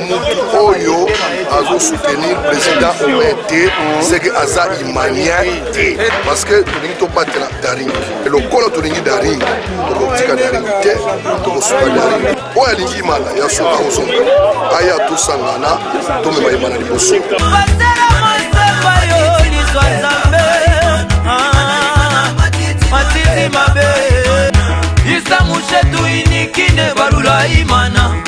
oyo azo soutenir président omer te seke aza imanien te parce que tolingi tobatela daring lokola tolingi daring tokotika daring te tokosuka daring oyo alingi imana ya soka ozonga aya tosangana tomema imana liboso matiti mabe isa mushetu inikine balula imana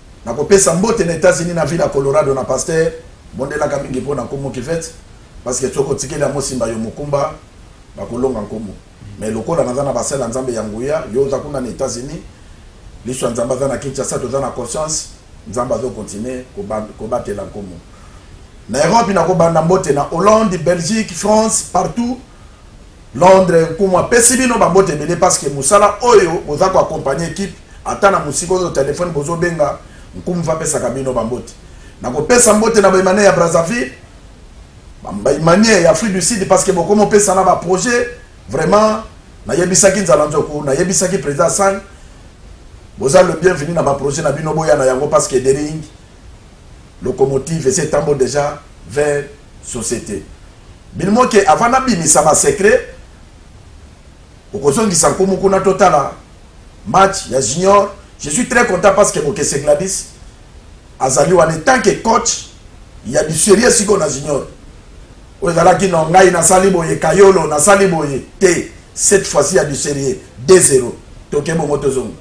Nakopesa mbote na Etats-Unis na ville ya Colorado na pasteur, bondelaka mingi mpo na nkumu Kivette parce que soki otikeli yango osimba yo mokumba bakolonga nkumu mais lokola naza na basali ya Nzambe ya nguya yo oza kuna na Etats-Unis liso ya Nzambe aza na Kinshasa toza na conscience Nzambe azo continuer kobatela nkumu na Europe nakobanda mbote na Hollande, Belgique, France partout Londres nkumu apesi bino ba mbote ebele parce que musala oyo boza ko accompagner équipe ata na musika ozo telephone bozo benga nkumu va pesaka bino ba mbote na ko pesa mbote na baimane ya Brazzaville baimane ya Afrique du Sud parce que bokomo pesa na ba projet vraiment na yebisaki nzala nzoku na yebisaki président Sang boza le bienvenu na ba projet na bino boya na yango parce que Dering locomotive ese tambo déjà vers societe bilimo ke avant nabimisa ba secret okozongisa nkumu kuna totala match ya junior je suis très content parce que bokese gladis azali wana tant que coach ya biserie sikoyo na junior oyo ezalaki no ngai nasali boye kayolo nasali boye te cette fois-ci ya biserie 2 0 toke bongo tozonga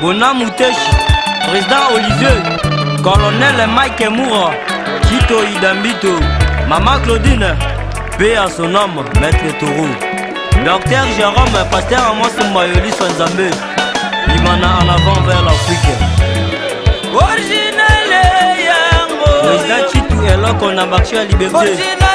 Bona Muteshi, Président Olivier, Colonel Mike Moura, Chito Idambito, Maman Claudine, paix à son âme, Maître Taureau. Docteur Jérôme, Pasteur Amos Mbayoli Sanzambe, Imana en avant vers l'Afrique. Original yango. Président Chitu eloko na marché ya liberté. Original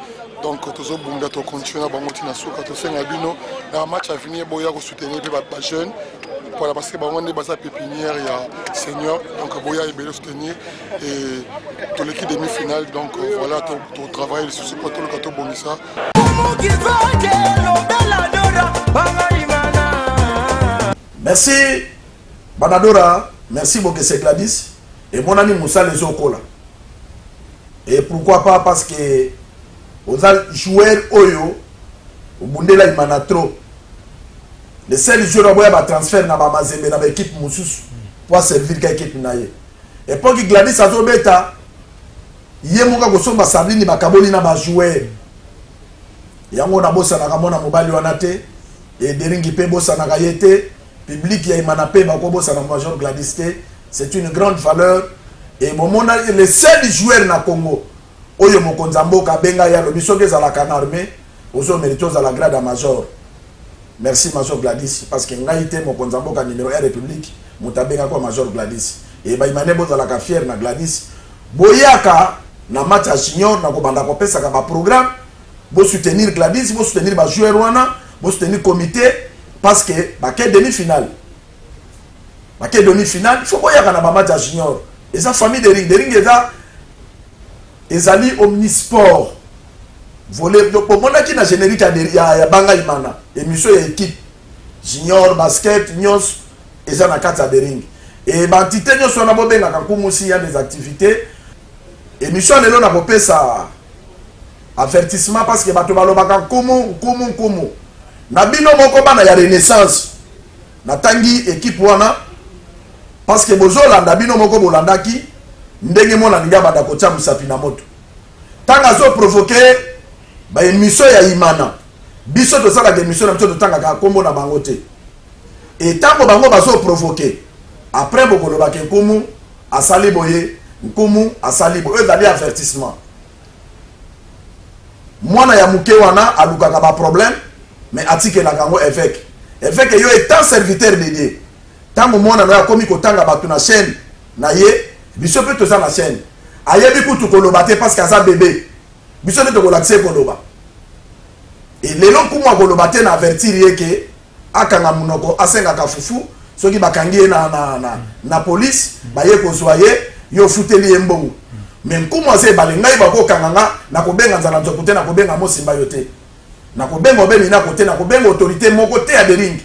donc tozobunda tocontinue na bango ntina suka tosenga bino na match avenir boya kosoutenir mpe bajeune mpona parce que bango nde baza pépinière ya seigneur donc boya ebele soutenir et toleki demi finale donc euh, voilà totravaille lisusu mpo toluka tobongisa merci Banadora merci bokese Gladys emonani musala ezokola et pourquoi pas parce que oza joueur oyo obundela imana trop le seul joueur aboya ba transfert na ba mazembe na ba équipe mosusu po aservir ka équipe na ye epoki gladis azobeta ye moko akosomba sardini bakaboli na bajoueur yango nabosanaka mwana mobali wana te Et Deringi pe bosanaka ye te, public ya Imana pe bako bosana Major Gladys te, c'est une grande valeur et bomona le seul joueur na Congo oyo mokonzi ya mboka abenga ye alobi soki ezalaka na armee ozo merite ozala grade ya Major. Merci Major Gladys parce que ngai te mokonzi ya mboka numero 1 republique moto abenga kwa Major Gladys. Et ba Imane bozalaka fier na Gladys. Boyaka na match ya junior na kobanda kopesaka ba programme Bo soutenir Gladys, bo soutenir ba joueurs wana, bo soutenir comité parce que ba ke demi finale. Ba ke demi finale, il faut boyaka na ba match ya junior. Eza famille de ring, de ring eza ezali omnisport. Volet donc omonaki na générique ya ya, ya Banga Imana, émission ya équipe junior basket nyonso eza na kati ya de ring. Et ba entité nyonso wana bobengaka nkumu si ya des activités Emission lelo na kopesa avertissement parce que bato balobaka nkumu nkumu nkumu na bino moko bana ya renaissance natangi ekipe wana parce que bozolanda bino moko bolandaki ndenge mwana lingi abanda kotya mosapi na moto ntango azoprovoke baemission ya imana biso tosalaka emission na biso totangaka nkombo na bango te etango bango bazoprovoke après bokolobaka nkumu Asali boye, Nkumu asali boye. Oyo ezali avertissement. Mwana ya muke wana alukaka ba problème mais atikelaka yango evêque. Evêque yo étant serviteur de Dieu, tango mwana na yo akomi kotanga bato na chaîne na ye, biso mpe toza na chaîne. Ayebi kutu koloba te parce que aza bebe. Biso nde tokolakisa ye koloba. Et lelo Nkumu akoloba te na avertir ye que akanga munoko asengaka fufu soki bakangi ye na, na, na, na police baye kozwa ye yo ofuteli ye mbongo me nkumu aza ebale ngai bakokanga nga nakobenga nzala nzoku te nakobenga mosimba yo te nakobenga obe minako te nakobenga autorité moko te ya deringi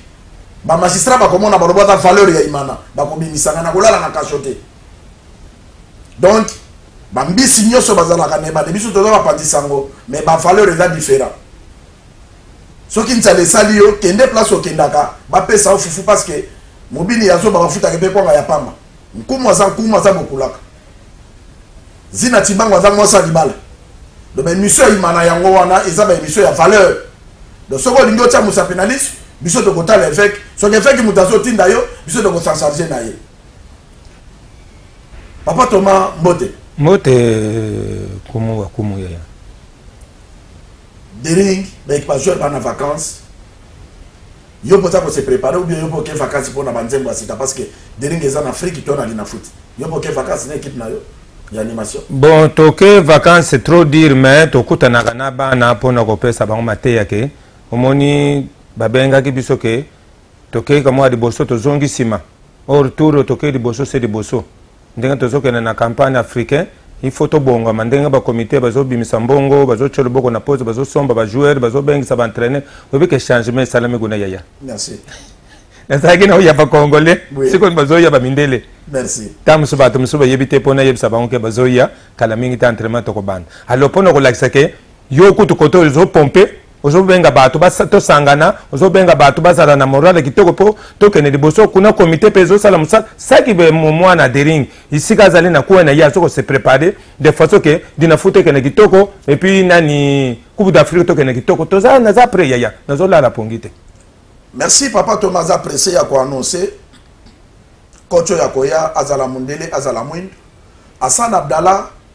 bamagistrat bakomona baloba aza valeur ya imana bakobimisa nga nakolala na kasho te donc bambisi nyonso bazalaka na ebale biso toza bapanzi sango me bavaleur eza différent soki nzala esali yo kende place okendaka bapesa yo fufu parce que mobini ya zoba bafutaka mpe kwanga ya pamba nkumu aza nkumu aza bokulaka zina tibango aza mwasi ya libala donc baemission ya imana yango wana eza baemission ya valeur donc soki olingi otya mosapi na liso biso tokotala eveke soki eveke moto azotinda yo biso tokosancharge na ye papa toma mbote mbote kumu wa kumu yaya Dering, mais ba joueurs bana vacances. Yo poza ko se préparer ou bien yo poke vacances pona ba nzembo asita parce que Dering eza na Afrique to na lina foot. Yo poke vacances na équipe na yo ya animation. Bon, toke vacances c'est trop dire mais tokutanaka na bana pona kopesa bango mateya ke omoni babengaki biso ke tokei kamwa liboso tozongi nsima or tour tokei liboso se liboso ndenge tozokende na campagne africain il faut tobongama ndenge bacomité bazobimisa mbongo bazotya loboko na pose bazosomba bajoueur bazobengisa baentraîneur oyebi ke changement esalami kuna yaya nazalaki na oya bacongolais sikoyo bazoya bamindele ntango mosusu bato mosusu bayebi te mpo nayebisa bango ke bazoya kala mingi te entraînement tokobanda alors mpo na kolakisa ke yo kutu kote ozopompe ozobenga bato tosangana ozobenga bato bazala na morale kitoko mpo tokende liboso kuna komite mpe ezosala mosala saki mwana dering isika azali na kuwa na ye azo kose prépare de façon ke dinafuta ekende kitoko epuis nani coupe d'afrique tokende kitoko toza naza pre yaya nazolala pongi te merci papa toma aza presse ya koannonce koco ya koya azala mondele azala mwindo asan abdallah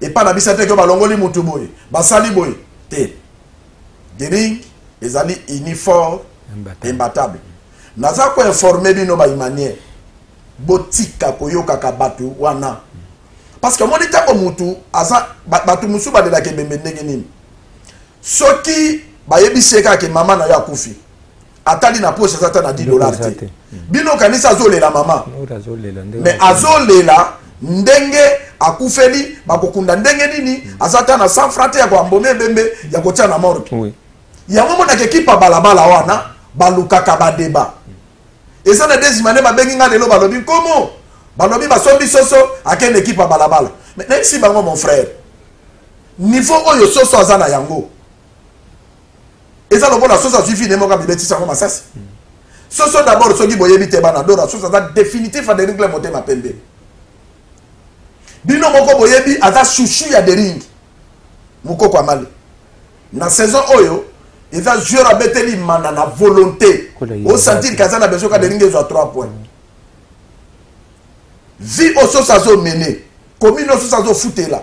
epa na bisa te ke balongoli mutu boye basali boye te dering ezali uniforme imbatable naza koinforme bino baimanie botika koyokaka bato wana parce que omoni ntango mutu aza bato mosusu balelaka ebembe ndenge nini soki bayebisi ye kaka ke mama na yo akufi atali na poche aza ata na 10 dollars te bino kanisa azolela mama mais azolela ndenge akufeli bakokunda ndenge nini aza ata na 100 franc te ya koambome ebembe ya kotia na morgue yango monaka ekipa balabala wana balukaka badeba eza na desimane babengi ngai lelo balobi nkomo balobi basombi soso akende ekipa balabala mais nayebisi bango mon frère niveau oyo soso aza na yango eza lokola soso azwi vine moko amibetisa yango masasi soso d'abord soki boyebi te bana dora soso aza définitif ya deringle motema pembe bino moko boyebi aza chouchou ya deringi mokoko ya male na saison oyo eza joueur abeteli mana na volonté osentir ke aza na besoin ka deringi ezwa 3 point vie oyo soso azomene komi no soso azofutela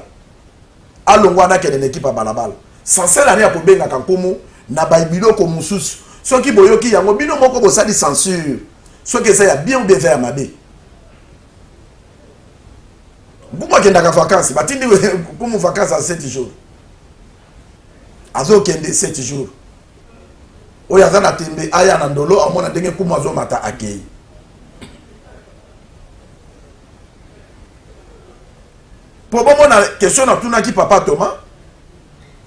alongwa na kende na ekipe ya balabala sansel ani akobengaka nkumu na biloko mosusu soki boyoki yango bino moko bosali censure soki eza ya bien ou bien eza ya mabe nkumu akendaka vacances batindi nkumu vacances ya 7 jours azokende 7 jours oyo aza na tembe aya na ndolo amona ndenge nkumu azomata akei Po bongo na question na tuna ki papa Thomas.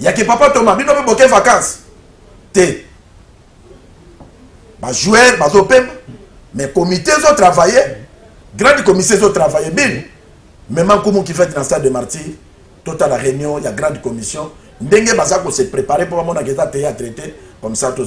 Ya ki papa Thomas bino pe boke vacances. Te. Ba jouer ba zo pemba. Mais comité zo travailler. Grand comité zo travailler bin. Même en comme qui fait dans stade de martyr. Total la réunion, il y a grande commission. Ndenge baza ko se préparer pour mon agenda théâtre comme ça tout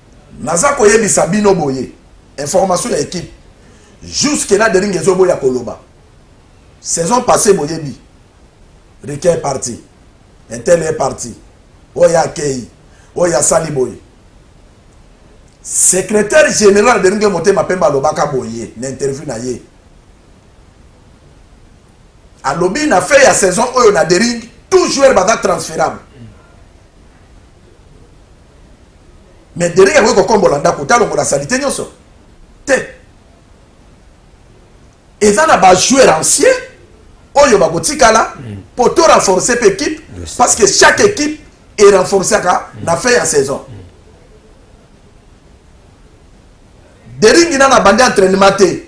naza koyebisa bino boye information ya ekipe jusque là dering ezoboya koloba saison passé boyebi rike est parti intel est parti oyo akei oyo asali boye secrétaire général deringe motema pembe alobaka boye na interview na ye alobi na fin ya saison oyo na dering tout joueur baza transférable mais Derek akoki kokombola ndako te alongola salite nyonso te eza na bajoueur ancien oyo bakotikala mpo mm. to renforce mpe équipe parce que chaque équipe e renforcaka mm. na fin ya saison mm. deringi nana abandi entraînement te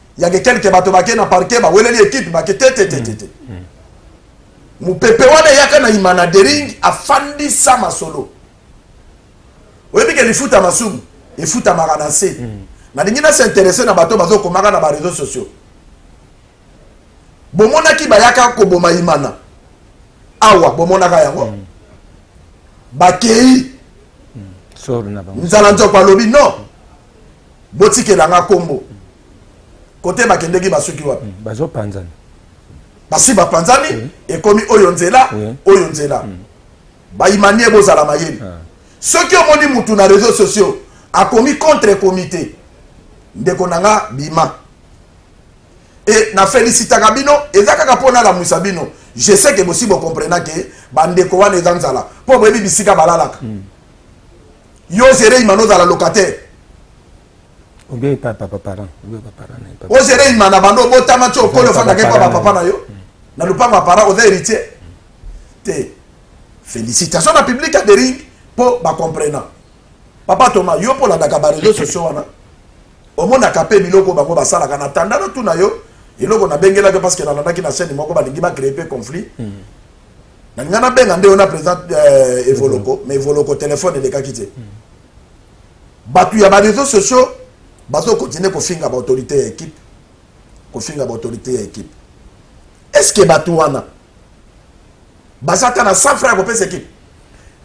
Il y a des quelques bateaux baké na parquet, ba weleli équipe baké te te te te te. Mm, mm. Mupepe wana yaka na imana dering afandi sa masolo. Oyebi ke lifuta masumu, efuta marana se. Mm. Na dingi na s'intéresser na bateau bazo komaka na ba réseaux sociaux. Bomonaki bayaka ko boma imana. Awa bomonaka yango. Mm. Bakei. Mm. Sor na bango. Nzala nzoko alobi non. Mm. botikela nga kombo kote bakendeki basuki wapi hmm, bazopanzana basi bapanzani oui. ekomi oyo nzela oui. oyo nzela hmm. baimanie bozala mayele ah. soki omoni mutu na réseau sociaux akomi contre comité ndeko na nga bima e na felicitaka bino eza kaka mpo nalamwisa bino je sais ke bosi bokomprena ke bandeko wana eza nzala mpo boyebi bisika balalaka mm. Yo zere imana ozala locataire. Obe papa papa parent. Obe papa parent. Hein, o zere imana bando obotama tso okolo fanda ke papa papa na yo. Hmm. Na lupanga parent oza héritier. Te. Félicitations na public ya Dering po ba comprenant. Papa Thomas, yo po la daka ba réseaux sociaux wana. Omonaka pe biloko bango basalaka na tanda na tuna yo eloko nabengelaki parce que nalandaki na chaîne moko balingi bacree mpe conflit mm. na nga nabenga nde ona président euh, evoloko mais evoloko téléphone elekaki te bato ya bareseau sociaux bazokontinue kofinga baautorité ya équipe kofinga baautorité ya équipe est ce que bato wana baza ata na 100 franc ya kopesa équipe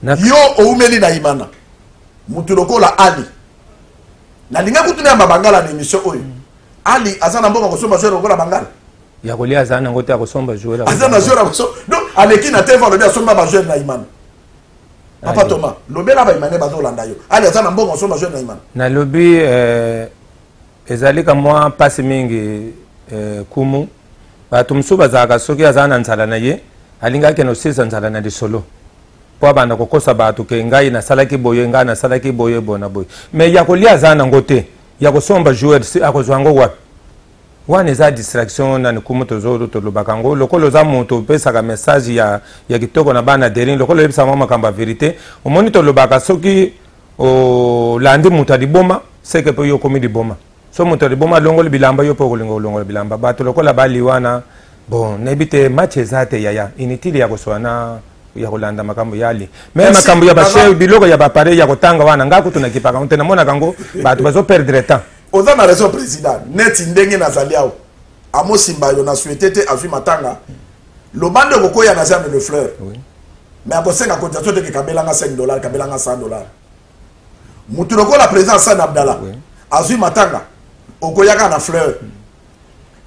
yo oumeli na imana motu lokola ali nalinga kutuna ya mabangala na émission oyo mm. Ali aza na mboka kosomba joueur lokola Bangala. Ya kolia aza na ngote akosomba joueur. Aza na joueur akosomba. Donc aleki na TV alobi asomba ba joueur na Imana. Papa Thomas, lobela ba Imane bazo landa yo. Ali aza na mboka kosomba joueur na Imana. Na lobi euh ezali ka mwa pasi mingi euh kumu. Bato mosusu bazalaka soki aza na nzala na ye alingaki kende kosilisa nzala na lisolo mpo abanda kokosa bato ke ngai nasalaki boye ngai nasalaki boye boye na boye me ya kolia aza nango te ya kosomba joueurs akozwa yango wapi wana eza distraction na nikumu tozo tolobaka yango lokola oza moto opesaka message ya, ya kitoko na bana derin lokola oyebisa yango makambo ya verité omoni tolobaka soki olandi oh, moto ya liboma seke mpe yo okomi liboma so moto ya liboma alongoli bilamba yo mpe okolinga kolongola bilamba bato lokola baliwana bon nayebi te match eza te yaya inutile ya koswana ya kolanda makambo yali me makambo ya bashe biloko ya bapareil ya kotanga wana ngai kutu nakipaka nte namonaka yango bato bazo perdre temps oza na raison président neti ndenge nazali awa amosimba yo na suete te azwi matanga loba nde okokoya na germe le fleur oui. me akosenga cotisation teke kabelanga 5 dollar kabelanga 100 dollar motu lokola président san abdala oui. azwi matanga okoyaka na fleur mm.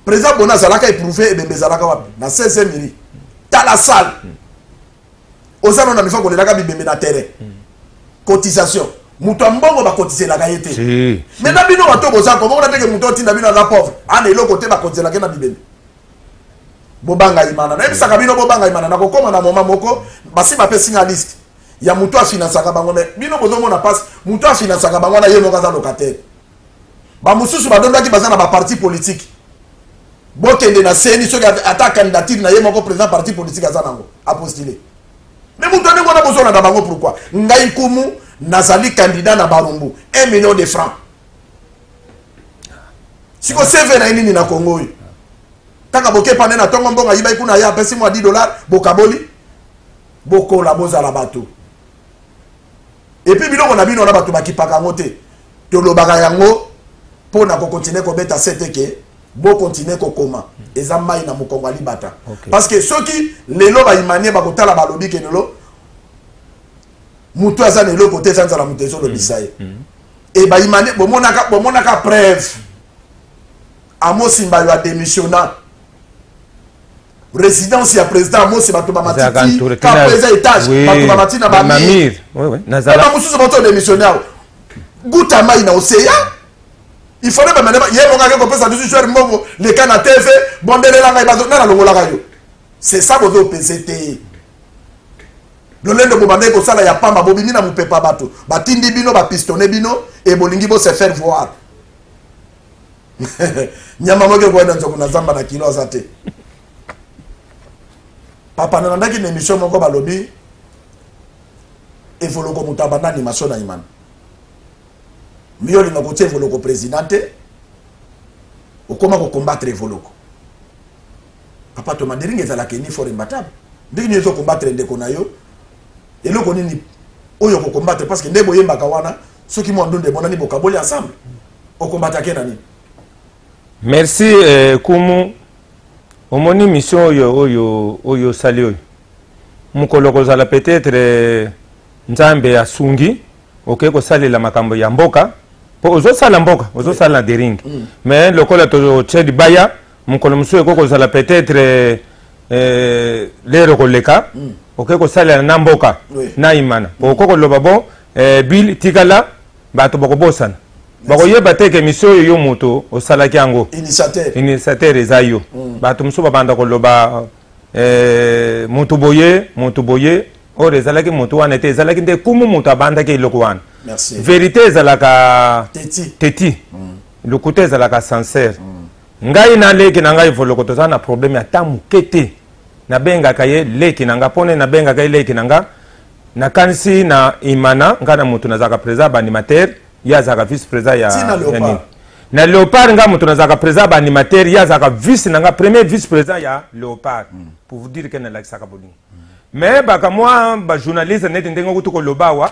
Président Bona azalaka éprouvé ebembe ezalaka wapi na 16e iri tala salle oza nona mifa kolelaka bibembe na terrain cotisation moto ya mbongo bakotiselaka ye te me na bino bato boza komona teke moto otinda bino aza pauvre ana eloko te bakotiselaka ye na bibembe bobanga imana nayebisaka bino bobanga imana nakokoma na moma moko basi bapesi nga liste ya moto afinansaka bango me bino bozomona mpasi moto afinansaka bango wana ye moko aza locataire bamosusu badondaki baza na baparti politike bokende na seni soki ata candidature na ye moko président parti politique aza nango apostile me moto ndenge wana bozolanda bango pourkui ngai nkumu nazali candidat na barumbu 1 million de franc siko cv na ye nini na congo oyo kaka bokepane na ntongo mbongo ayibai kuna ye apesi mwa 10 dollar bokaboli bokola bozala bato epuis biloko na bino wana bato bakipaka yango te tolobaka yango mpo na kokontinue kobeta sete ke bokontinue kokoma eza mai na mokongo ya libata okay. parce que soki lelo baimanie bakotala balobi ke lelo motu aza na eloko te eza nzala moto ezolobisa ye mm. mm. e baimanie bomonaka, bomonaka preuve amosimba yo ademissionna residence ya président mose bato bamatitikapreza étage bato bamati na bamir bamosusu bato démissionne awa guta mai na oseya il fallait bamene ye moko ake kopesa bisu jwere mbongo leka na tv bondelela ngai bazo nana longolaka yo c'est ça bozo pese te lolendo bobandaki kosala ya pamba bobimi na mopepa bato batindi bino bapistone bino e bolingi bose faire voir nyama moke koyeda nzoku na zamba na kilo aza te papa nalandaki na émission moko balobi evoloko moto abanda animation na imana mbi olinga kotia evoloko président te okoma kocombattre evoloko papa tomanderinga ezalaka eni fort imbatable ndenge nini ezocombattre ndeko na yo eloko nini oyo okocombattre parce que nde boyembaka wana soki mwa ndonda emonani bokaboli ensemble okombatake na nini merci eh, kumu omoni mission oyo oyo oyo osali oyo mokolo kozala peut-être eh, nzambe asungi okei kosalela makambo ya mboka mpo ozosala mboka ozosala na dering mm. mais lokola totye libaya mokolo mosusu ekoki kozala peut-être eh, eh lere koleka mm. okoki kosalela na mboka oui. na imana mm. okoki koloba bon eh, bile tikala bato bakobosana bakoyeba te ke misio oyo yo moto osalaki yango initiateur eza yo mm. bato mosusu babanda koloba eh, moto boye moto boye oyo ezalaki moto wana te ezalaki nde kumu moto abandaki eloko wana verité ezalaka teti, teti. Mm. lokuta ezalaka sincere mm. ngai na leki na ngai voloko tozala na probleme ata moke te nabengaka ye leki na nga mpo nini nabengaka ye leki na nga nakanisi na imana ngai na moto nazalaka président ya baanimateur ye azalaka vice président ya, ya nini na leopard ngai moto nazalaka président ya baanimateur ye azalaka vice na nga premier vice président ya leopard mm. pour vous dire ke nalakisaka bolingo mm. mais bakamwa bajournaliste neti ndenge okuti koloba awa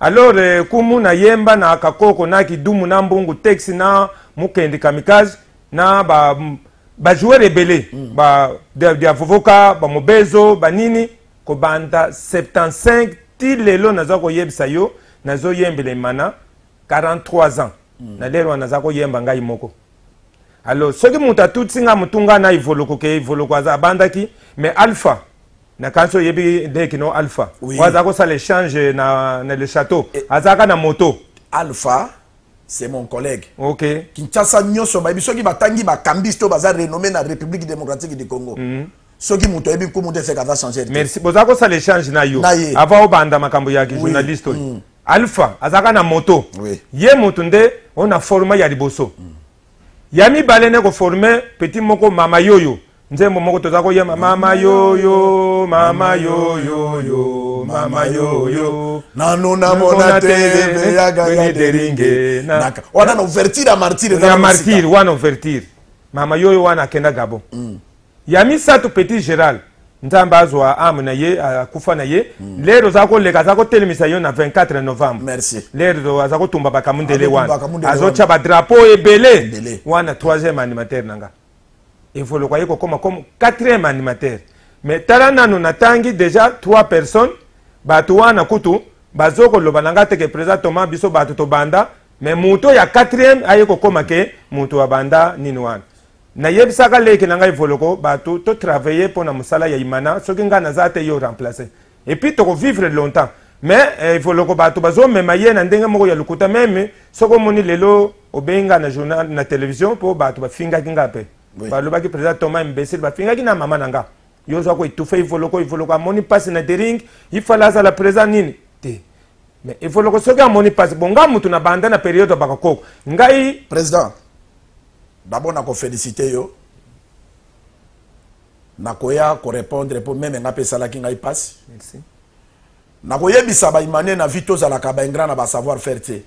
Alors eh, kumu na yemba na kakoko na kidumu na mbungu texi na mukendi kamikaze na ba bajoueur ebele mm. ba dia vovoka bamobezo banini kobanda 75 ti lelo naza koyebisa yo nazoyembela emana 43 ans mm. na lelo wana naza koyemba ngai moko alors soki moto atutisi ngai motu ngai na ivoloko ke ivoloko aza abandaki mais alpha nakanisi oyebi nde kino alpha oui. oyo aza kosala échange na, na le château e... azalaka na moto alpha c'est mon collègue okay. kinshasa nyonso bayebi soki batangi bakambisi to baza renommé na république démocratique du congo mm -hmm. soki moto ayebi nkumu te seka aza changer merci boza kosala échange na yo avant obanda makambo ya journaliste oyo oui. mm. alpha azalaka na moto oui. ye moto nde oyo na forma ya liboso mm. ya mibale nde koforme petit moko mama yoyo nzembo moko toza koyema mama yoyo mama yoyoyo mama yoyo nanu namona teeyagaderinge wana na ouverture ya martire ya martire wana ouverture mama yoyo wana akenda gabon mm. ya misato petit geral nzambe azwa ame na ye akufa na ye mm. lero aza koleka aza kotelemisa yo na 24 novembre Merci. lero aza kotumba bakamundele wana azotya badrapo ebele wana troisième animateur na nga evoloko aye kokoma comme quatrième animateur mais tala nano natangi déjà trois personnes bato wana kutu bazokoloba na ngai teke président toma biso bato tobanda me moto ya quatrième aye kokoma ke moto abanda nini wana Nayebisaka leki na ngai Voloko batu to travailler pona musala ya Imana soki ngai naza te yo remplacer et puis toko vivre longtemps mais eh, Voloko batu bazo mema ye na ndenge moko ya lukuta meme soki omoni lelo obengi ngai na journal na television po batu bafingaki ngai pe oui. balobaki president Thomas imbecile bafingaki na mama na ngai yo oza ko etufe ivoloko ivoloko amoni mpasi na dering ifale azala présent nini te mais ivoloko soki amoni mpasi bo ngai motu na banda na periode ya bakakoko ngai président Babo na ko felicite yo na koya ko repondre po meme nga pe esalaki ngai pasi. Merci. Na koyebisa ba imane na vie tozalaka ba ingra na ba savoir faire te.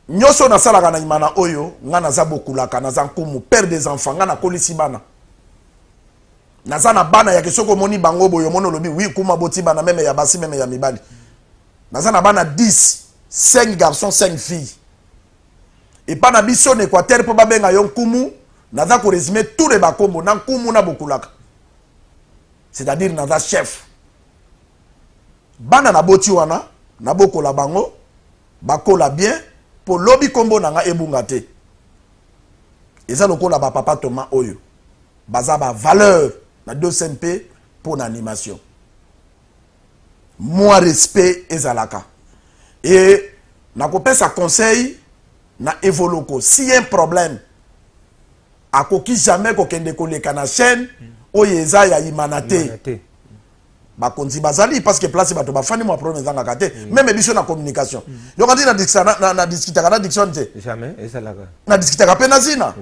Nyoso nasalaka na imana oyo nga naza bokulaka naza nkumu père des enfants nga nakolisi bana. Naza na bana ya kisoko moni bango boyo mono lobi oui kuma boti bana meme ya basi meme ya mibali. Naza na bana 10 5 garçons 5 filles. epa na biso na equateur mpo babenga yo nkumu naza koresume tout le bakombo na nkumu na bokulaka c'est-à-dire naza chef bana naboti wana nabokola bango bakola bien mpo lobi nkombo na ngai ebunga te eza lokola bapapa toma oyo baza bavaleur na 2 mpe mpo na animation mwa respect ezalaka e nakopesa conseil na evoloko si un problème akoki jamais kokende koleka na chaîne oyo eza ya imana te bakonzi bazali parce que place bato bafandi mwa problème ezangaka te mm. meme biso na communication mm. yokati na discutaka na diction te na discutaka mpe na zina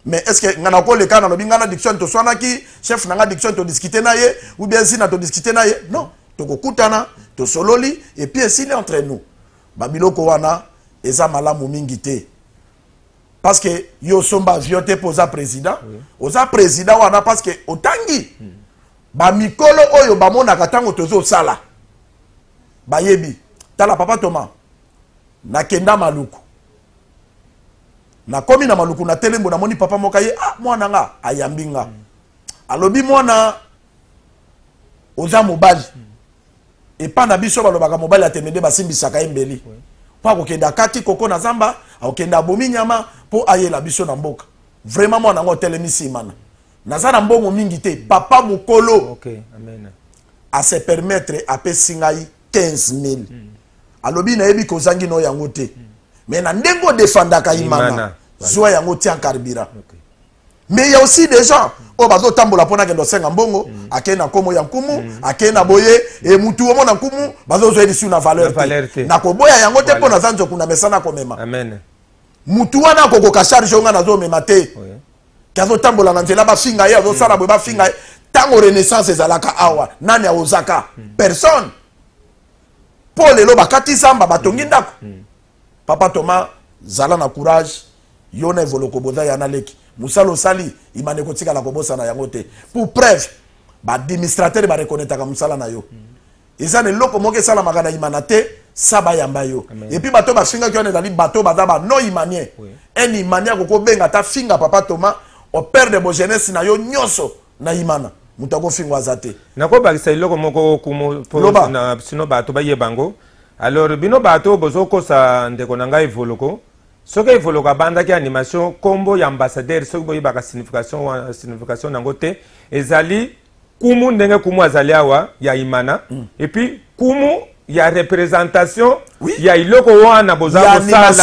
mais est ce que nga nakoleka nalobi nga na diction toswanaki chef na nga diction todiskute na ye ou bien zina todiskute na ye non tokokutana tosololi epuis esili entre nous babiloko wana eza malamu mingi te parce que yo osomba avion te mpo oza président oza président wana parce que otangi mm. bamikolo oyo bamonaka ntango tozosala bayebi tala papa toma nakenda maluku Na komi na maluku na telembo na moni papa moka ye ah mwana nga ayambi nga mm. alobi mwana oza mobali mm. epa na biso balobaka mobali atemede basimbisaka ye mbeli oui. mpo akokende akati koko na zamba akokende abomi nyama mpo ayela biso na mboka vraiment mwana yango otelemi nsimana naza na mbongo mingi te papa mokolo okay, amen. ase permettre apesi ngai 15 000 mm. alobi nayebi ke ozangi no yango te mm. mais na ndenge odefandaka imana zwa yango tia carburant okay. mais il y a aussi des gens oyo bazotambola mpo nakende osenga mbongo mm. akei na nkomo ya nkumu mm. akei na boye e mutu omo na nkumu bazozwa elisu na valeur te nakoboya yango te mpo naza nzoku na mesa nakomema mutu wana akokoka charge oyo ngai nazomema te ke azotambola na nzela bafinga ye azosala mm. boye bafinga ye ntango renaissance ezalaka awa nani aozaka personne po lelo bakati zamba batongi ndako papa toma zala na courage yo na evoloko boza ya naleki mosala osali imane kotikala kobosana yango te pour preuve baadministrateur barekonetaka mosala na yo eza na eloko moko esalamaka na imana te sa bayamba yo epuis bato bafingaki wana ezali bato baza ba non imanien un imanien akoki obenga ata finga papa toma operdre bogenese na yo nyonso na imana moto akofingo aza te nakobakisa eloko moko okumu sino bato bayeba yango alors bino bato bozokosa ndeko na ngai evoloko soki evoloko abandaki animation nkombo ya ambassadeur soki boyebaka signification signification nango te ezali kumu ndenge kumu azali awa ya imana mm. epuis kumu ya representation oui. ya iloko wana boza kosala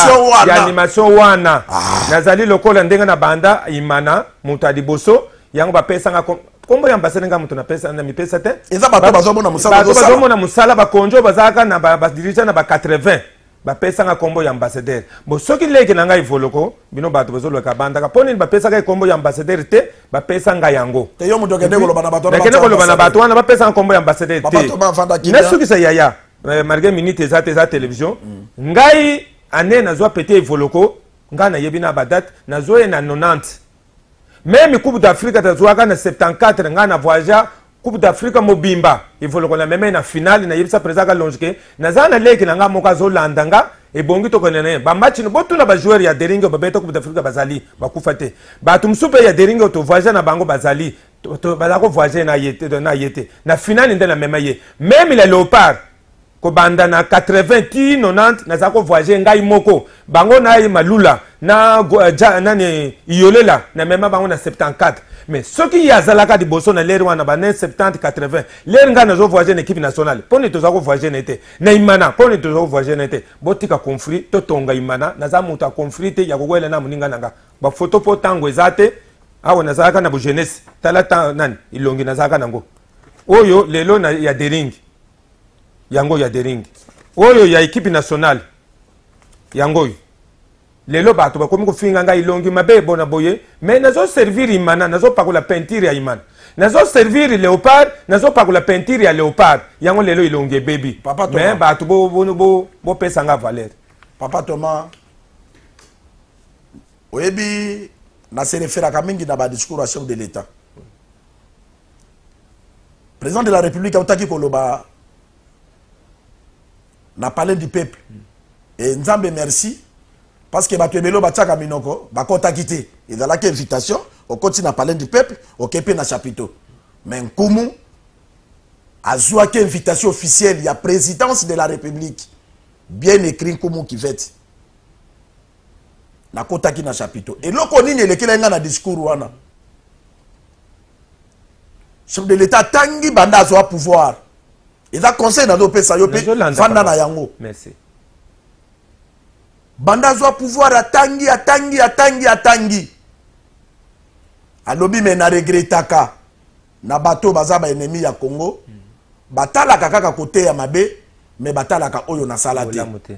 ya animation wana ah. nazali lokola ndenge na banda imana moto ya liboso yango bapesanga kombo ya ambasade nga moto namipesa te eza bato bazomona mosala bakonjo bazalaka na badirigea na ba 80 bapesanga kombo ya ambassadeur bo soki leki na ngai voloko bino bato bozolweka bandaka mpo nini bapesaka ye kombo ya ambassadeur te bapesa ngai yango nakende koloba na bato wana bapesanga kombo ya ambassadeur te nasukisa yaya eh, malgré minute eza te eza télévision mm. ngai ane nazwa pete evoloko ngai nayebi na badate nazwa ye na 90 meme coupe d'afrique tazuaka na 74 ngai na voyagea coupe d'afrique mobimba evoloko na meme na finale nayebisa président kalonji ke naza na leki na ngai moko azolanda nga ebongi tokende na ye bamatch no botuna bajoueur ya deringi oyo babeta coupe d'afrique bazali bakufa te bato mosusu mpe ya deringi oyo tovoyage na bango bazali bazala kovoyage na ye te na finale nde na meme ye meme la léopard kobanda na 80 ti 90 naza ko voyager ngai moko bango na ye malula na uh, ja, nani iyolela na mema bango na 74 mais soki ye azalaka liboso na lere wana bane 70 80 lere ngai nazo voyager na équipe nationale mpo nini toza ko voyager na ye te na imana mpo nini toza ko voyager na ye te botika conflit totonga imana naza moto ya conflit te ya kokwela na moninga na nga bafoto mpo ntango eza te awa nazalaka na bogenese tala nani ilongi nazalaka nango oyo lelo na, ya deringi yango ya dering oyo ya ekipe nationale yango oyo lelo bato bakomi kofinga ngai longi mabe ebona boye mai nazoservir imana nazopakola peinture ya imana nazoservir leopard nazopakola peinture ya leopard yango lelo ilongi ebebi mai bato bopesa bo, bo, bo nga valeur papa thomas oyebi nasereferaka mingi na badiscours ya chef de l'état président de la république autaki koloba na palais du peuple e nzambe merci parce que bato ebele batiaka minoko bakɔtaki te ezalaki invitation okoti na palais du peuple okei mpe na chapiteau mais nkumu azwaki invitation officielle ya présidence de la république bien écrit nkumu kivete nakotaki na chapito eloko nini elekela ngai na discours wana chef de l'état atangi banda azwa pouvoir eza conseil nazopesa yo mpe fanda na yango Merci. banda azwa pouvoir atangi atangi atangi atangi alobi me na regretaka na bato oyo baza ba ennemi ya Congo mm. batalaka kaka kote ya mabe me batalaka oyo nasala te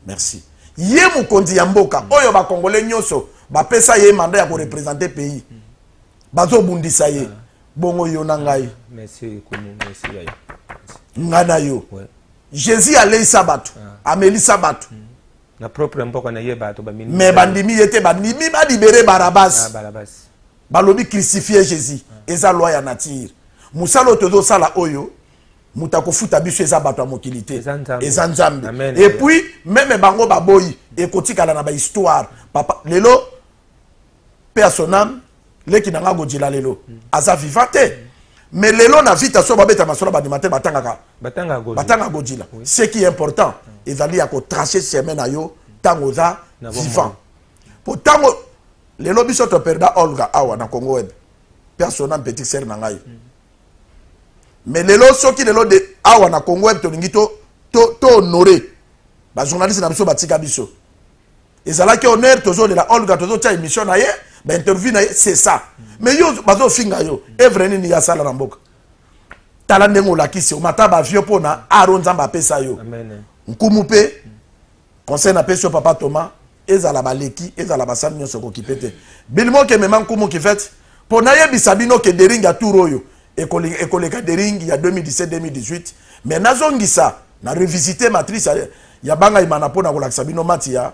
merci ye mokonzi ya mboka mm. oyo bakongole nyonso bapesa ye manda ya korepresente pays mm. bazobundisa ye ah. bongo yo na ngai ah, ngai na yo jésus aleisa bato ah. amelisa bato mm. na propre mboka na ye bato bamini mais bandimi ye te bandimi balibere barabas ah, barabas balobi crucifie jésus ah. eza loi ya nature mosala oyo tozosala oyo moto akofuta biso eza bato ya mokili te eza nzambe epuis meme bango baboyi ekotikala na bahistoire papa lelo paix à son âme leki na nga godila lelo aza viva te mais lelo na vita so babeta masolo bandima te batangaka batanga godila ce qui est important ezali ya kotrace chemin na yo ntango oza vivant mpo ntango lelo biso toperda olga awa na congo web mpe asona petit sere na ngai mm. mais lelo soki lelo de awa na congo web tolingi to, to, to honore bajournaliste na biso batika biso ezalaki honneur tozolela olga tozotya émission na ye bainterview na ye c'est ça mais yo bazofinga yo evre nini ye asala na mboka tala ndenge olakisi omata bavio mpo na aro nzambe apesa yo nkumu mpe conseil napesi yo papa thomas ezala baleki ezala basali nyonso kokipe te bilimo kemema nkumu kivete mpo nayebisa bino ke dering ya tour oyo ekoleka ekoleka dering ya 2017 2018 mais nazongisa na revisite matrice ya, ya banga imana mpo na kolakisa bino mati ya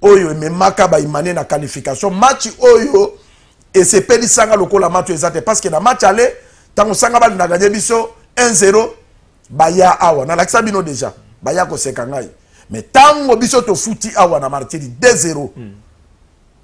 oyo ememaka baimane na qualification match oyo esepelisanga lokola match eza te parce que na match ale ntango sanga bali na ganye biso 1-0 baya awa nalakisa bino deja baya koseka ngai mais ntango biso tofuti awa na martiri 2-0 mm.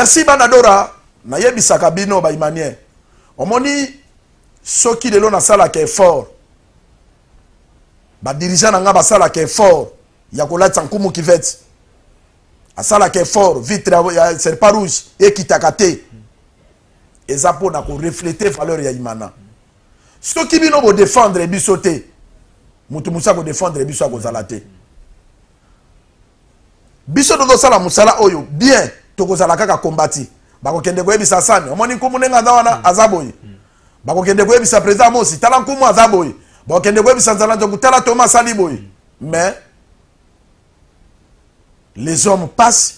merci banadora nayebisaka bino baimanien omoni soki lelo nasalaka effort badirigant na ngai basalaka effort ya kolatisa nkumu kivete asalaka effort vitre ya serpa rouge ekitaka te eza mpo na koreflete valeur ya imana soki bino bo défendre biso te mutu musu ako défendre biso akozala te biso tozosala mosala oyo bien tokozala kaka kombati bakokende koyebisa sani omoni nkumu ndenge aza wana mm. aza boye mm. bakokende koyebisa président mosi tala nkumu aza boye bakokende koyebisa nzala nzoku tala toma asali boye mm. mais les hommes passent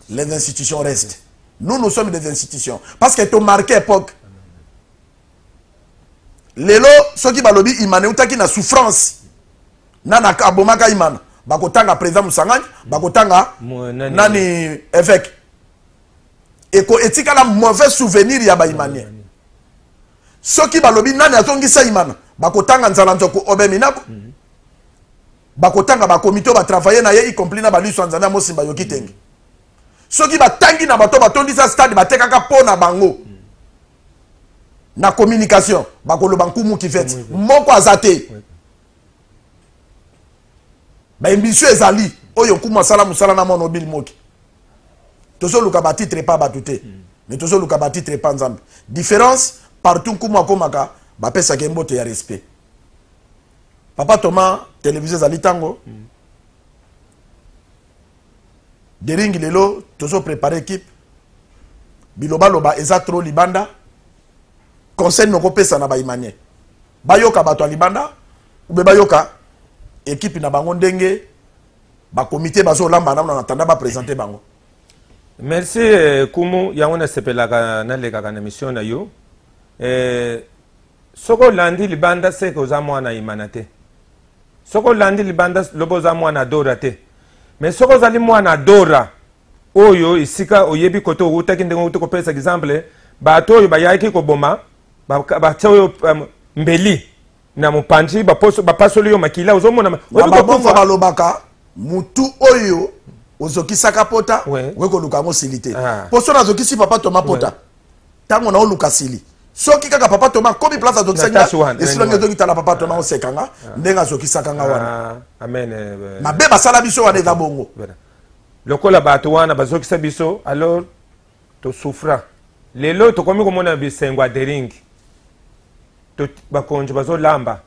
les institutions restent nous nous sommes des institutions parce que tomarke époque lelo soki balobi imana eutaki na souffrance nana abomaka imana bakotanga président mosangani bakotanga nani évêque eko etikala mauvais souvenir ya baimanien soki balobi nani azongisa imana bakotanga nzala nzoko obe minako mhm. bakotanga bakomite oyo batravaille na ye y compris na baliso ya nzambe ya mosimba yoki tenge soki batangi na bato batondisa stade batekaka mpo na bango mm. na communication bakoloba nkumu kivete moko aza te baemission ezali oyo nkumu asala mosala na mwana obili moki tozoluka batitre epa bato te mm. mais tozoluka batitre epa nzambe différence partout nkumu akomaka bapesaka ye mbote ya respect papa thomas televizio ezali ntango mm. dering lelo tozo prepare ekipe bilobaloba eza tro libanda conseil nokopesa na baimanie bayoka bato ya libanda ube bayoka ekipe na bango ndenge bakomite bazolamba nano na tanda bapresente bango merci eh, kumu yango nasepelaka nalekaka na mission na yo eh, soki olandi libanda seke oza mwana imana te soki olandi libanda loba oza mwana adora te me soki ozali mwana adora oyo esika oyebi kote owutaki ndenge owuti kopesa exemple bato oyo bayaki koboma batya oyo um, mbeli na mopanzi bapasoli yo makila ozomona babongo balobaka motu oyo ozokisaka pota oye koluka yango osili te ah. mpo so nazokisi papa toma pota tango nao luka sili soki kaka papa toma akomi place azokisaki nga esilangi otoki tala papa toma oseka nga ndenge azokisaka nga wana mabe basala biso wana eza bongo lokola bato wana bazokisa biso alors tosouffra lelo tokomi komona bisengo ya deringi bakonzi bazolamba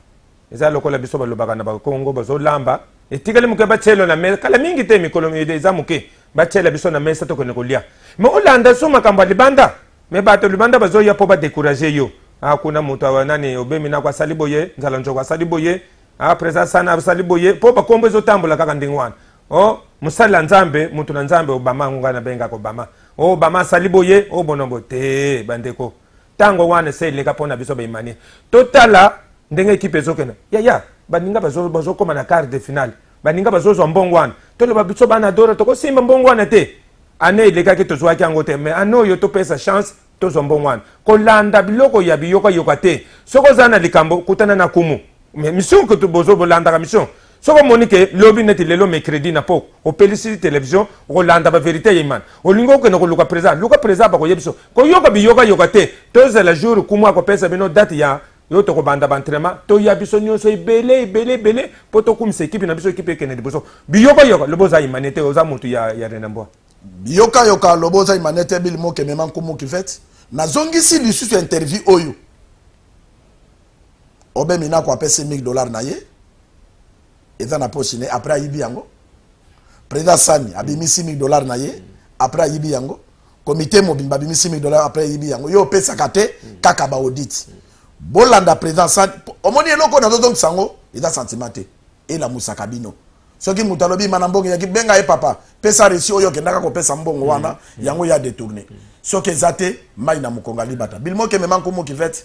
Eza lokola biso balobaka na bakongo bazolamba etikali moke batyelo na mesa kala mingi te mikolo eza moke batyela biso na mesa tokende kolia me olanda so makambo ya libanda me bato libanda bazoya mpo badekourage yo ah, kuna moto nani obemi nako asali boye nzala njoko asali boye ah, président sana asali boye mpo bakombo ezotambola kaka ndenge wana o oh, mosali ya nzambe moto na nzambe obama yango ngai nabengaka obama o oh, obama asali boye obonobo oh, te bandeko tango wana ese eleka mpo na biso baimanie totala ndenge ekipe ezokende yaya baninga bazokoma na quart de finale baninga bazozwa mbongo wana toloba biso bana dora tokosimba mbongo wana te ane elekaki tozwaki yango te mais ane oyo topesa chance tozwa mbongo wana kolanda biloko ya biyokayoka te soki ozala na likambo kutana na kumu mais mission kutu bozo bolandaka mission soki omoni ke lobi neti lelo mercredi na po opelisi television okolanda baverité ya imana olingi okende koluka président luka président bakoye biso koyoka biyokayoka te tozela jour kumu akopesa bino date ya yo tokobanda baentrainement toya biso nyonso ebele ebele ebele mpo tokumisa ekipe na biso ekipe ekende liboso biyokayoka lobi oza imane te oza motu ya, ya renambwa biyokayoka lobi oza imane te bilimokemema nkumu kivete nazongisi lisusu interview oyo obe minako apesi 1000 dollars na ye eza na poche ne après ayibi yango président sani abimisi 1000 dollars na ye après ayibi yango komite mobimba abimisi 1000 dollars après ayibi yango yo opesaka te kaka baodite bolanda président sani omoni eloko oyo nazozongisa yango eza sentiment te elamusaka bino soki moto alobi mana mbongo yaki benga ye papa pesa resi oyo okendaka kopesa mbongo wana mm, mm. yango ya détourne soki eza te mai na mokonga libata bilimo kemema nkumu kivete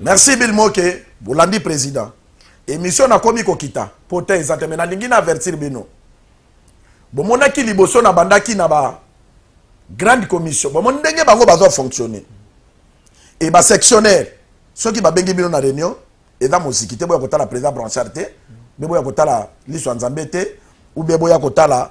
merci bill moke bolandi président émission nakomi kokita po te eza te me nalingi na avertir bino bomonaki liboso nabandaki na ba grande commission bomoni ndenge bango bazo fonctionner e basectionnaire soki babengi bino na réunion eza moziki te boya kotala président branchard te mpe boya kotala liso ya nzambe te ube boya kotala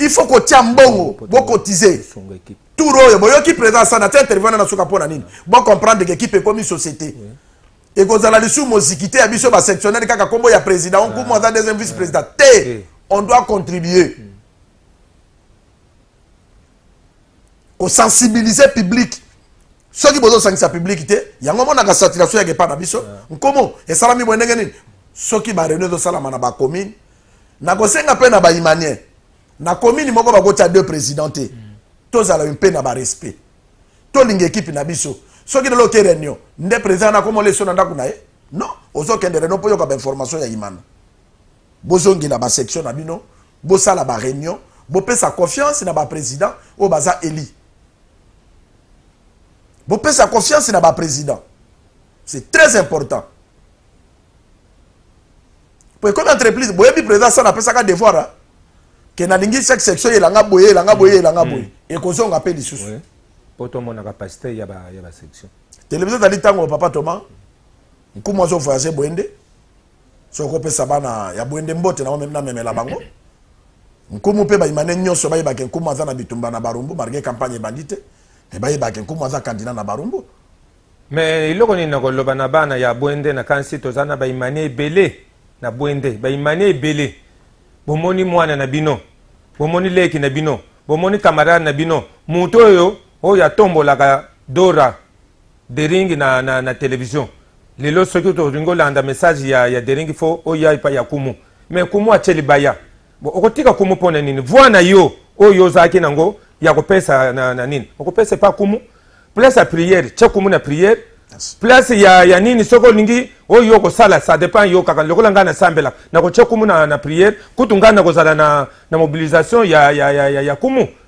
il faut kotia mbongo bocotize tour oyo boyoki président asana atia interview wana na suka mpo na nini bocomprendre ke ekipe ekomi société ekozala lisusu moziki te ya biso basectionnele kaka nkombo ya président onkumu aza deuxième vice président te on doit contribuer kosensibilize publike soki bozosangisa publike te yango monaka saturation yaka epai na biso nkomo esalami boye ndenge nini soki bareunion ezosalama na bacommune nakosenga mpe na baimanien na commune moko bakotya deux président te mm. tozala mpe na barespect tolinga ekipe na biso soki lelo oke reunion nde président nakomola eso na ndako na ye non ozokende reunion mpo yoka bainformation ya imana Bozongela ba section na bino, bosala ba reunion, bopesa confiance na ba president oyo baza eli. Bopesa confiance na ba president. C'est très important. Pour ekomi entreprise, boyebi president sana apesaka devoir hein? ke nalingi chaque section elanga boye elanga boye elanga boye mm. ekozonga mpe lisusu oui. mpo tomonaka pasteur ya basection ba télévision ezali ntango papa thomas nkumu azovoyage boye nde soki okopesa bana ya bwende mbote na namemela bango nkumu mpe baimane nyonso bayebake nkumu aza na bitumba na barumbu marge campagne ebandi te me bayebake nkumu aza kandida na barumbu me eloko nini nakoloba na bana ya bwende nakanisi toza na baimane ebele na bwende baimane ebele bomoni mwana na bino bomoni leki na bino bomoni camarade na bino moto oyo oyo atombolaka dora Dering na, na, na television lelo soki tolingi olanda message ya, ya dering fo oya epai ya kumu me kumu atie libaya bo okotika kumu mpo na nini voi na yo oyo ozalaki nango ya kopesa na, na nini okopesa epai kumu place ya priere tie kumu na priere place ya, ya nini soki olingi oyo okosala ça dépend yo kaka lokola ngai nasambela nakotia kumu na, na priere kutu ngai nakozala na, na mobilisation ya, ya, ya, ya, ya kumu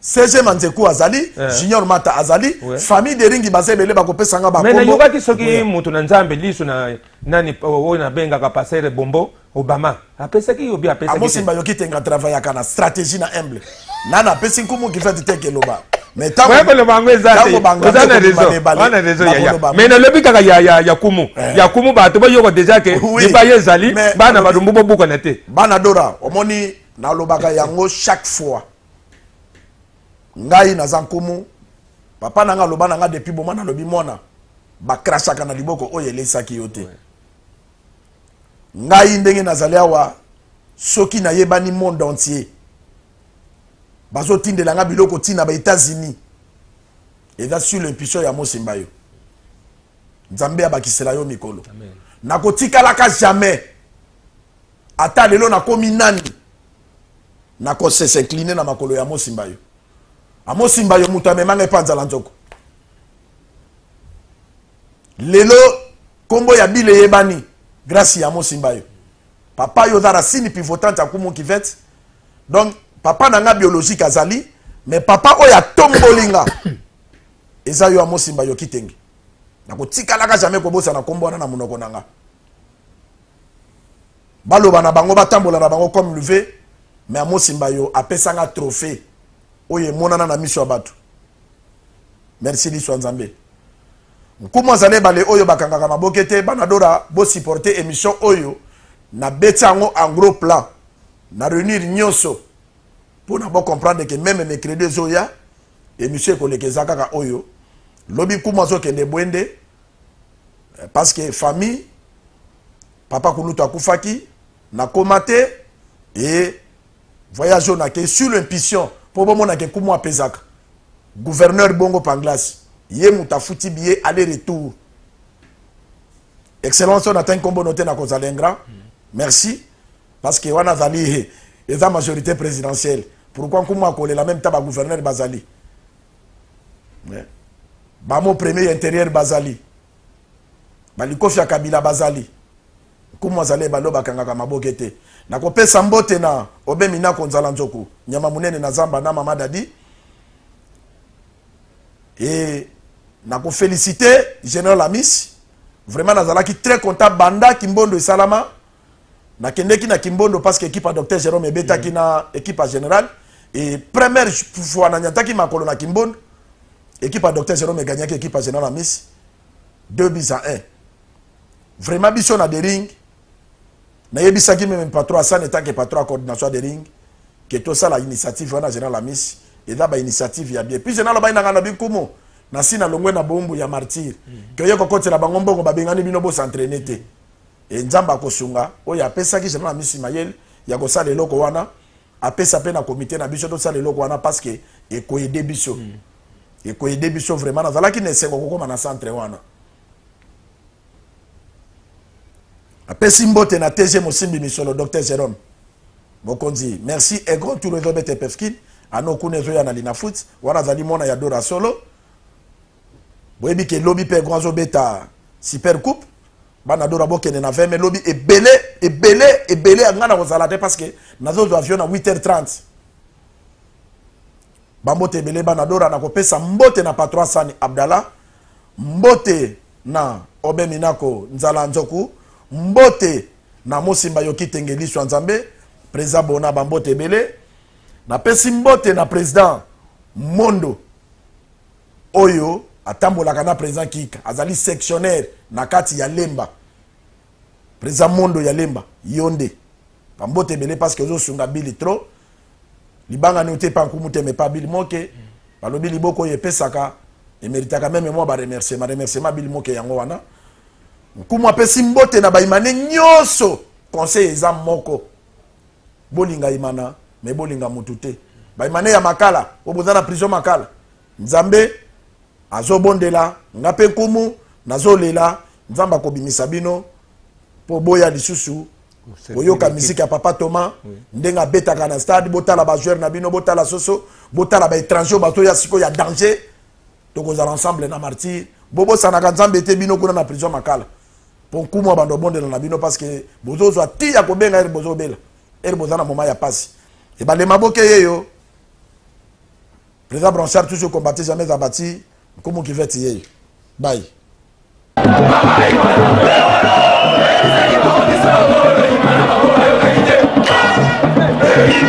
CG Manzeku azali, eh. Junior Mata azali, ouais. famille de Ringi baza ebele bakopesa nga bakombo. Mais nayokaki soki oui. moto na Nzambe liso na nani oyo nabengaka pasere bombo Obama apesaki yo bi apesaki. Amosimba yoki tenga travaillaka na stratégie na humble. Nana apesi nkumu kifati teke loba. Mais tango ouais, koloba yango eza te. Oza na raison. Oza na raison ya ya. Mais nalobi kaka ya ya ya kumu. Eh. Ya kumu bato bayoka déjà ke lipa ye ezali bana badumbu bobukana te. Bana Dora omoni nalobaka yango chaque fois. ngai naza nkumu papa na nga aloba na nga depuis boma nalobi mwana bakrashaka na liboko oyo eleisaki yo te ngai ndenge nazali awa soki nayebani monde entier bazotindela nga biloko ntina ba états-unis eza sur l'impution ya mosimba yo nzambe abakisela yo mikolo nakotikalaka jamais ata lelo nakomi nani nakosesincline na makolo ya mosimba yo amosimba yo moto amemanga epa nzala nzoko lelo nkombo ya bile eyebani grâce ya mosimba yo papa yo oza rasini pivotante ya kumu kivete donc papa na nga biologique azali mais papa oyo atomboli nga eza yo amosimba yo kitenge nakotikalaka jamais kobosana nkombo wana na monoko na nga baloba na bango batambola na bango comme luve me amosimba yo apesanga trophée oyo emonana na miso ya bato merci liso ya nzambe nkumu azali ebale oyo bakangaka maboke te banadora bosupporte émission oyo nabeti yango en gros plan na réunir nyonso mpo na bocomprendre ke meme mercredi ezoya emission ekoleka eza kaka oyo lobi kumu azokende bwende eh, parce que famille papa kulutu akufaki nakoma te e voyage oyo nakei sur l'impulsion mpo bomonaka ekumu apesaka gouverneur bongo panglas ye moto afuti biye aller retour excellence oyo natangi nkombo no te nakozala ingra merci Parce que wana azali he eza majorite presidentielle pourquoi nkumu akolela meme ta ba gouverneur bazali eh? bamo premier ya interieur bazali balikofi ya kabila bazali nkumu azali ebale bakangaka maboke te nakopesa mbote na obe minako nzala nzoku nyama monene na zamba na mama dadi e nakofelicite general amis vraiment nazalaki très content banda kimbondo esalama nakendeki na kimbondo parce que ekipe ya docteur jerome ebetaki mm. na ekipe ya general e première fois nanyataki makolo na kimbondo ekipe ya docteur jerome egagnaki ekipe ya general amis 2 bis à 1 vraiment biso na dering nayebisaki meme patron asane etanke patron ya coordination ya dering ke tosala initiative wana general amis eza bainitiative ya bien puis general abai nanga na bikumu nasi nalongwe na boumbu ya martyre mm. ke oye kokotela bango mbongo babengani bino bosentraine te mm. Et Nzambe akosunga oyo apesaki General Amisi mayele ya kosala eloko wana apesa pe na comité na biso tosala eloko wana parce que ekoede biso mm. ekoede biso vraiment nazalaki na esengo kokoma na centre wana apesi mbote na tg mosimbi misolo dr jerome mokonzi merci egro tour ezobete pefkin ano kuna ezoya na linafoot wana azali mwana ya dora solo boyebi ke lobi pe egro azobeta super coupe bana dora bokende na 20 mai lobi ebele ebele ebele ya ngai nakozala te parce que nazozwa avion na 8h30 bambote ebele bana dora nakopesa mbote na patro asani abdallah mbote na obe minako nzala nzoku mbote na mosimba yoki tenge liso ya nzambe président bona bambote ebele napesi mbote na président mondo oyo atambolaka na president kika azali sectionnaire na kati ya lemba president mondo ya lemba yo nde bambote ebele parce que ozosunga bili trop libanga ni otepa nkumu te mepa bili moke balobi liboko oyo epesaka emeritaka meme mwa baremerciema remerciema bili moke yango wana nkumu apesi mbote na baimane nyonso conseil eza moko bolinga imana me bolinga mutu te baimane ya makala oyo boza na prison makala nzambe azobondela nga mpe nkumu nazolela nzambe akobimisa bino mpo boya lisusu koyoka miziki ya papa thomas ndenge abetaka na stade botala bajoueur na bino botala soso botala baétranger oyo bazoya sikoyo ya danger tokozala ensemble na martyre bobosanaka nzambe te bino kuna na prison makala po nkumu abanda obondela na bino parce que bozozwa ti ya kobenga ere bozobela ere boza na moma ya pasi ebalema boke yeyo président blanchard toujours combattit jamais abati nkumu kiveti yeyo bai Thank you.